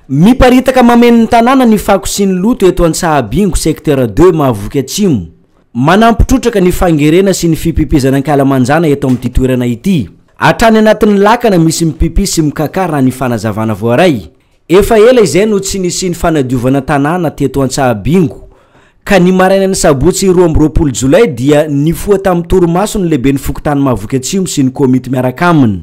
Miparitaka mameno ny tanàna ny fako sy ny loto eto Antsahabingo, secteur deux, Mahavoky Atsimo. Manampy trotraka ny fangerena sy ny fipipizana ankalamanjana eto amin'ity toerana ity. Hatrany anatin'ny lakana misy mipipy sy mikakà raha ny fanazavana voaray. Efa ela izay no tsy nisian'ny fanadiovana tanàna teto Antsahabingo ka ny marainan'ny sabotsy roa amby roapolo jolay dia nifoha tamin'ny torimaso ny lehiben'ny fokontany Mahavoky Atsimo sy ny komity miaraka aminy.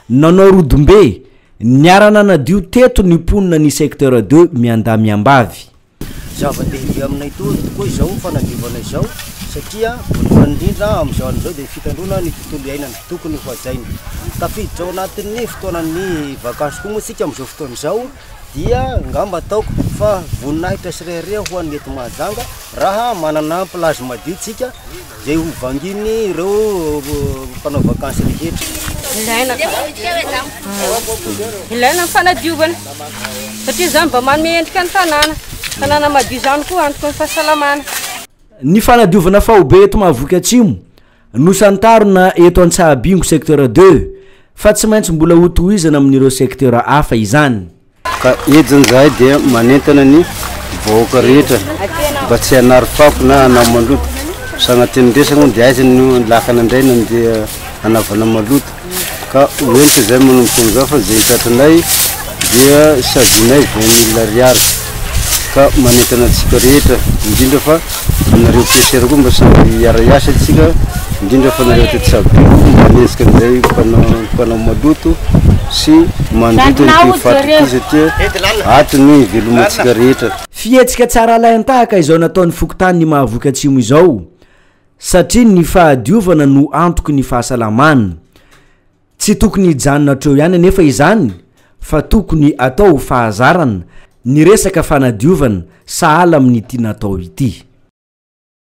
Nanao rodombe, niara-nanadio teto ny mponina ny secteur deux miandahy miambavy. Zava-dehibe aminay tokoa izao fanadiovana izao satria voalohany indrindra amin'izao andro izao dia fitandroana ny tontolo iainana, tokony hohajaina. Tafiditra ao anatin'ny fotoanan'ny vakansy koa moa isika amin'izao fotoana izao. dia ngamba ataoko fa voninahitra sy rehareha ho an'ny eto Mahajanga raha manana plage madio tsika izay ho vangian'ny ireo mpanao vakansy rehetra. Ilaina ka. Ilaina ny fanadiovana. Satria izany mba manome endrika ny tanàna. Tanàna madio izany koa antoky ny fahasalamana. Ny fanadiovana faobe eto Mahavoky Atsimo. Nosantarina eto Antsahabingo secteur deux fa tsy maintsy mbola hotohizana amin'ireo secteur hafa izany. Ka ediny izahay dia manentana ny vahoaka rehetra mba tsy hanary fako na hanao maloto. Sagnatria ny resaka moa dia aiza no lakana indray nandeha hanaovana maloto. ka ho entitra izay manomboka amin'izao fa izay tratranay dia sazinay vingt mille ariary ka manentana antsika rehetra indrindra fa anareo PCR koa mba samy hiara hiasa antsika indrindra fa anareo ato Tsabio mba hanenjika an'izay mpanao mpanao maloto sy mandoto an'ity faty ity satria ato ny hivelomantsika rehetra. Fihetsika tsara alain-tahaka izao nataon'ny fokontany Mahavoky Atsimo izao. Satria ny fahadiovana no antoky ny fahasalamana. Tsy tokony hijanona hatreo ihany anefa izany fa tokony atao ho fahazarana ny resaka fanadiovana sahala amin'ny ity natao ity.